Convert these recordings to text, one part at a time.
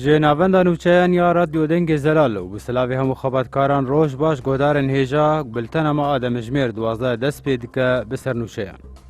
Ji navenda nûçeyan ya Radyo Dengê Zelal û bi silavê hemû xebatkaran roj baş godarên hêja biltena me a demijmêr duwazdeh dest pê dike bi ser nûçeyan.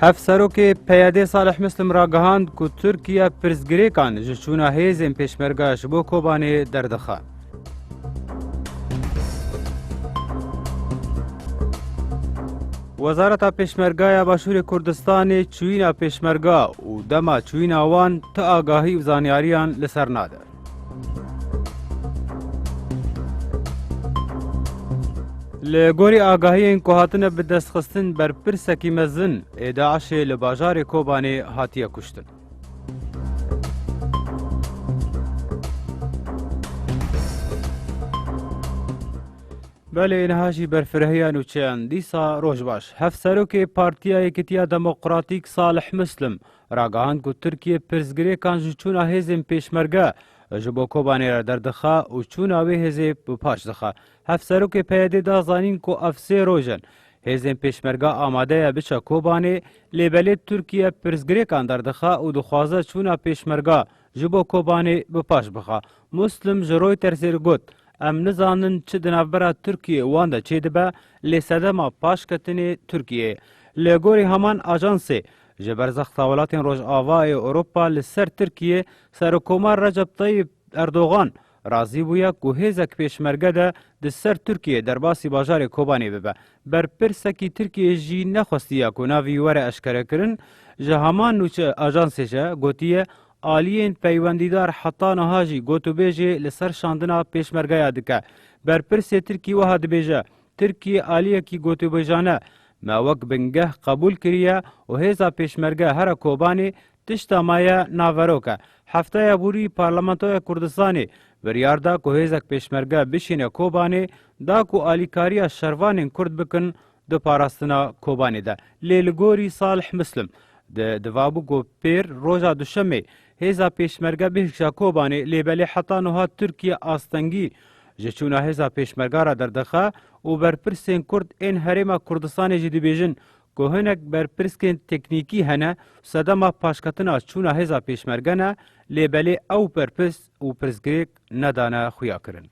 Hevserokê PYD'ê Salih Muslim ragihand ku Tirkiye pirsgirêkan ji çûna hêzên Pêşmerge ji bo Kobanê derdixe. Wezareta Pêşmerge ya Başûrê Kurdistanê çûyîna Pêşmerge û dema çûyîna wan ti agahî û zanyariyan li ser nade. Li gorî agahiyên ku hatine bidestxistin berpirsekî mezin ê DAIŞ'ê li bajarê Kobanê hatiye kuştin. Belê niha jî berfirehîya nûçeyan dîsa roj baş. Hevserokê Partiya Yekîtiya Demokratîk Salih Muslim ragihand ku Tirkiye pirsgirêkan ji çûna hêzên Pêşmerge ji bo Kobanê re derdixe û çûna wê hêzê bi paş dixe. Hevserokê PYD'ê da zanîn ku ev sê roj in hêzên Pêşmerge amade ye biçe Kobanê, lê belê Tirkiye pirsgirêkan derdixe û dixwaze çûna Pêşmerge ji bo Kobanê bi paş bixe. Muslim ji Reutersê re got, Em nizanin çi di navbera Tirkiyeyê wan de çêdibe, lê sedema paşketinê Tirkiyeyê. Li gorî heman ajansê, Ji ber zexta welatên Rojavayê Ewropa li ser Tirkiyê, Serokkomar Recep Tayyip Erdogan razî bûye ku hêzek pêşmerge de di ser Tirkiyê derbasî bajarê Kobanê bibe. Berpirsekî Tirkiyê jî nexwestiye ku navî were eşkerekirin, ji heman nûçe ajansê jî gotiye aliyên peywendîdar heta niha jî gotûbêjê li ser şandina pêşmergeya dike. Berpirsê Tirkî wiha dibêje, Tirkiyê aliyekî gotûbêjane me wek bingeh qebûl kiriye û hêza pêşmerge here Kobanê tişta me ye naverok e. Hefteya bûrî Parlamentoya Kurdistanê biryar da ku hêzek pêşmerge bişîne Kobanê da ku alîkariya şervanên Kurd bikin di parastina Kobanê de. Lê li gorî Salih Muslim di divabû ku pêr roja duşemê Hêza Pêşmerge bêhişa Kobanê lê belê heta nuha Tirkiye astengî ji çûna hêza Pêşmerga re derdixe û berpirsên Kurd ên Herêma Kurdistanê jî dibêjin ku hinek berpirskên teknîkî hene sedema paşketina çûna hêza Pêşmerge ne lê belê ew berpirs û pirsgirêk nedane xuyakirin.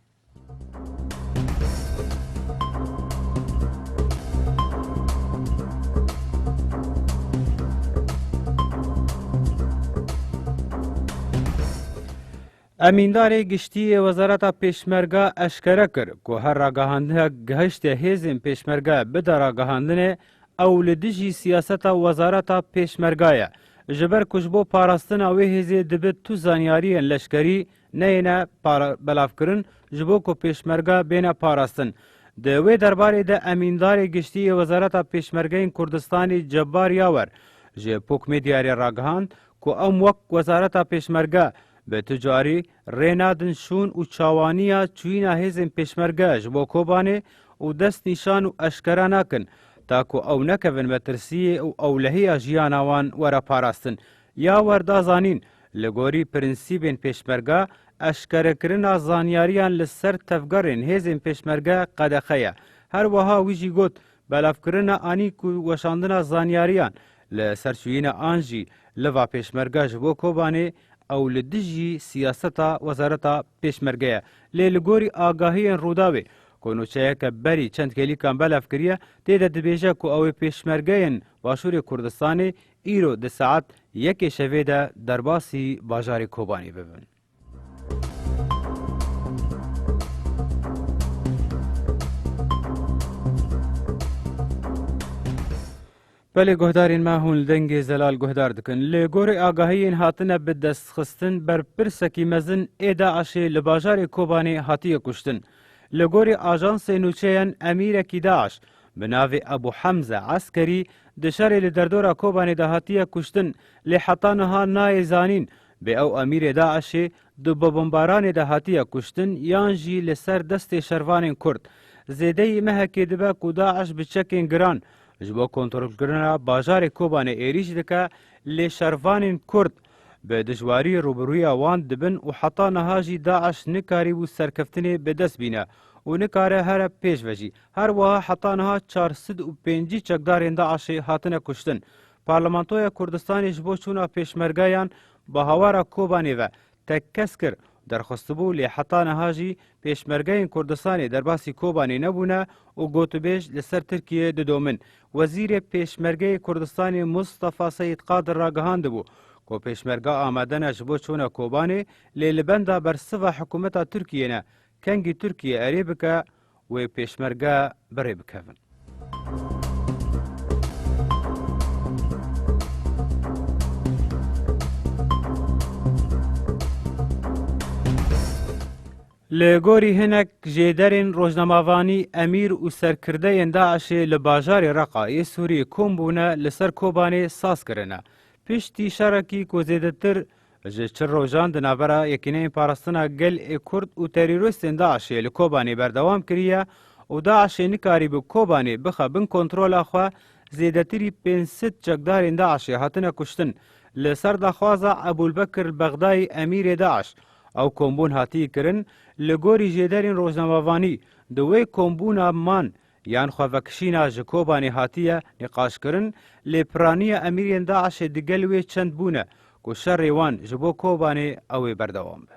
Emîndarê giştî yê Wezareta Pêşmerga eşkere kir ku her ragihandineke gihiştê hêzên pêşmerge bide ragihandinê ew li dijî siyaseta Wezareta Pêşmerga ye. Ji ber ku ji bo parastina wê hêzê dibe tu zanyariyên leşkerî Neyêne belavkirin ji bo ku Pêşmerge bêne parastin. Di wê derbarê de Emîndarê Giştî yê Wezareta Pêşmergeyên Kurdistanê Cebar Yawer ji Pok Medyayê ragihand ku em wek Wezareta Pêşmerge bi tu carî rê nadin şûn û çawaniya çûyîna hêzên Pêşmerge ji bo Kobanê û dest nîşan û eşkera nakin ta ku ew nekevin metirsiyê û ewlehiya jiyana wan were parastin Ya wer da zanîn, li gorî prinsîbên Pêşmerge, eşkerekirina zanyariyan li ser tevgerên hêzên Pêşmerge qedexe ye. Her weha wî jî got, belavkirina anîk û weşandina zanyariyan li ser çûyîna an jî li va Pêşmerge ji bo Kobanê ew li dijî siyaseta Wezareta Pêşmerge ye. Lê li gorî agahiyên Rûdawê ku nûçeyeke berî çend hêlîkan belav kiriye, tê de dibêje ku ew ê Pêşmergeyên Başûrê Kurdistanê Îro di saet yekê şevê de derbasî bajarê Kobanê bibin. Belê guhdarên me hûn li dengê zelal guhdar dikin. Li gorî agahiyên hatine bi destxistin berpirsekî mezin ê DAIŞ'ê li bajarê Kobanê hatiye kuştin. Li gorî ajansê nûçeyen emîrekî DAIŞ Bi navê Abu Hemze Eskerî di şerê li derdora Kobanê de hatiye kuştin lê heta niha nayê zanîn bê ew emîrê DAIŞ'ê di bobombaranê de hatiye kuştin yan jî li ser destê şervanên Kurd. Zêdeyî mehekê dibe ku DAIŞ bi çekên giran ji bo kontrolkirina bajarê Kobanê êrîş dike lê şervanên Kurd bi dijwarî rûbirûya wan dibin û heta niha jî DAIŞ nikarîbû serkeftinê bi dest bîne û nikare here pêş ve jî. Her wiha heta niha çar sed û pêncî çekdarên DAIŞ'ê hatine kuştin. Parlamentoya Kurdistanê ji bo çûna pêşmergeyan bi hawara Kobanê ve tek kes kir û derxwestibû lê heta niha jî pêşmergeyên Kurdistanê derbasî Kobanê nebûne û gotûbêj li ser Tirkiyeyê didomin. Wezîrê Pêşmergeyê Kurdistanê Mustafa Seyîd Qadir ragihandibû ku pêşmerge amade ne ji bo çûna Kobanê lê li benda bersiva hikûmeta Tirkiyê ne. Kengî Tirkiye erê bike Wê pêşmerge birê bikevin. Li gorî hinek jê derên rojnamavanî emîr û serkirdeyên DAIŞ'ê li bajarê Reqa yê Sûriyê kom bûne li ser Kobanê saz kirine. Piştî şerekî ku zêdetir Ji çil rojan di navbera Yekîneyên Parastina Gel ê Kurd û terorîstên DAIŞ'ê li Kobanê berdewam kiriye û DAIŞ'ê nikarîbû Kobanê bixe bin kontrola xwe, zêdetirî pênc sed çekdarên DAIŞ'ê hatine kuştin. Li ser daxwaza Ebûlbekir Elbexdayî emîrê DAIŞ, ew kombûn hatiye kirin, li gorî jêderên rojnamevanî di wê kombûna man Yan xwevekişîna ji Kobanê hatiye nîqaşkirin lê piraniya emîriyên DAIŞ'ê digel wê çend bûne ku şerê wan ji bo Kobanê ew ê berdewam be.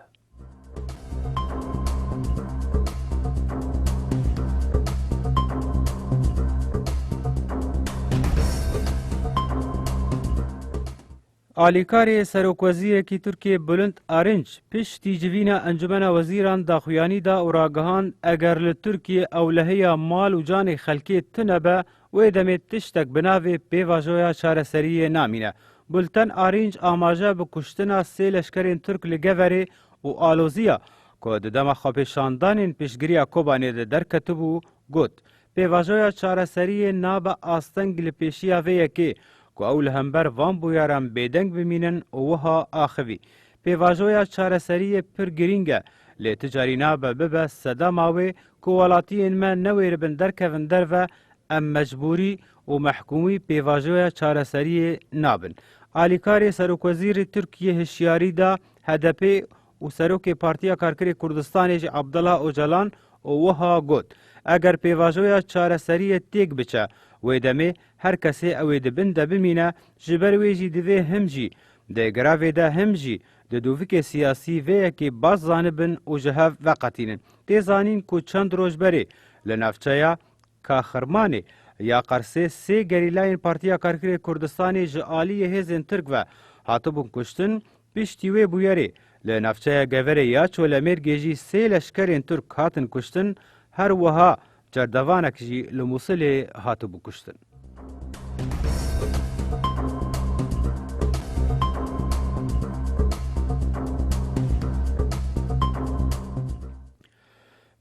Alîkarê Serokwezîrekî Tirkiyê Bulind Arînç piştî civîna Encumena Wezîran daxuyanî da û ragihand eger li Tirkiyê ewlehiya mal û canê xelkê tune be wê demê tiştek bi navê pêvajoya çareseriyê namîne. Bulten Arînç amaje bi kuştina sê leşkerên Tirk li Geverê û aloziya ku di dema xwepêşandanên piştgiriya Kobanê de derketibû got, Pêvajoya çareseriyê nabe asteng li pêşiya vê yekê ku ew li hember van bûyeran bêdeng bimînin û wiha axivî, Pêvajoya çareseriyê pir girîng e, lê ti carî nabe bibe sedema wê ku welatiyên me newêribin derkevin derve, em mecbûrî û mehkûmî pêvajoya çareseriyê nabin. Alîkarê Serokwezîrê Tirkiyê hişyarî da HDP'ê û Serokê Partiya Karkerê Kurdistanê jî Abdullah Ocalan û wiha got, Eger pêvajoya çareseriyê têk biçe, wê demê her kesê ew ê di bin de bimîne, ji ber wê jî divê him jî di grevê de him jî di dûvikê siyasî vê yekê baş zanibin û ji hev veqetînin. Tê zanîn ku çend roj berê li navçeya Ka Xirmanê ya Qersê sê gerîlayên Partiya Karkerê Kurdistanê ji aliyê hêzên Tirk ve hatibûn kuştin, piştî wê bûyerê li navçeya Geverê ya Çolemêrgê jî sê leşkerên Tirk hatin kuştin, her wiha cerdevanek jî li Mûsilê hatibû kuştin.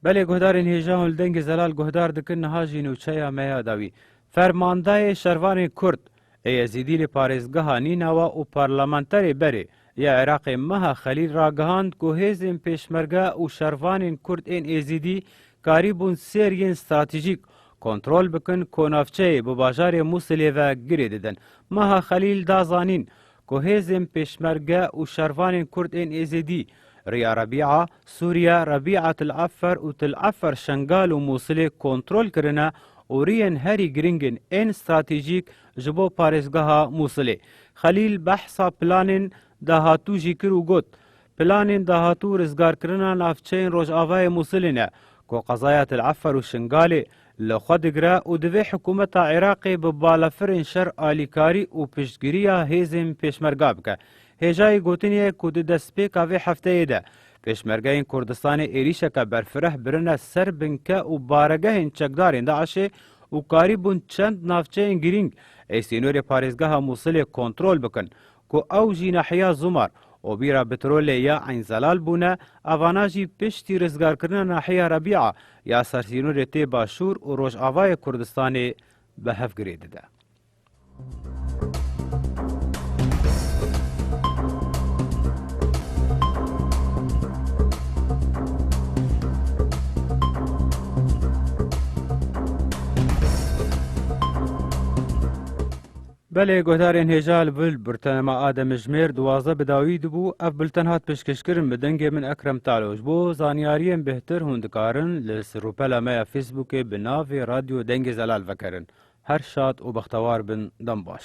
Belê guhdarên hêja hûn li dengê zelal guhdar dikin niha jî nûçeya me ya dawî. Fermandayê şervanên kurd ê yezîdî lê parêzgeha Nînawa û parlamenterê berê ya Iraqê Meha Xelîl ragihand ku hêzên pêşmerge û şervanên kurd ên êzîdî karî bûn sêr yên stratejîk kontrol bikin konavçeyê bi bajarê Mûsilê ve girê didin. Meha Xelîl da zanîn ku hêzên pêşmerge û şervanên kurd ên êzidî, Riya Rebîa, Sûriye, Rebîa Til Efer û Til Efer Şengal û Mûsilê kontrol kirine û riyên herî girîng in ên stratejîk ji bo parêzgeha Mûsilê. Xelîl behsa planên dahatû jî kir û got, Planên dahatû rizgarkirina navçeyên rojavayê Mûsilê ne ku qezaya Til Efer û Şingalê li xwe digire û divê hikûmeta Iraqê bi balafirên şer alîkarî û piştgiriya hêzên pêşmerga bike. Hêjayî gotinê ye ku di destpêka vê hefteyê de pêşmergeyên Kurdistanê êrîşeke berfireh birine ser binke û baregehên çekdarên DAIŞê û karî bûn çend navçeyên girîng ê sînorê parêzgeha Mûsilê kontrol bikin Ku ew jî nahiya Zumar û bîra Bitrolê ya Eyn Zelal bûne, evana jî piştî rizgarkirina nahiya Rebîa ya sersînorê tê Başûr û Rojavayê Kurdistanê bi hev girê dide. Belê guhdarên hêja li bil birtenema a demijimêr duwazdeh bi dawî dibû, ev bilten hat pêşkêşkirin bi dengê min Ekrem Talo ji bo zanyariyên bêhtir hûn dikarin li sirûpela me ya fêsbûkê bi navê radyo dengê zelal vekerin. Her şad û bextewar bin dem baş.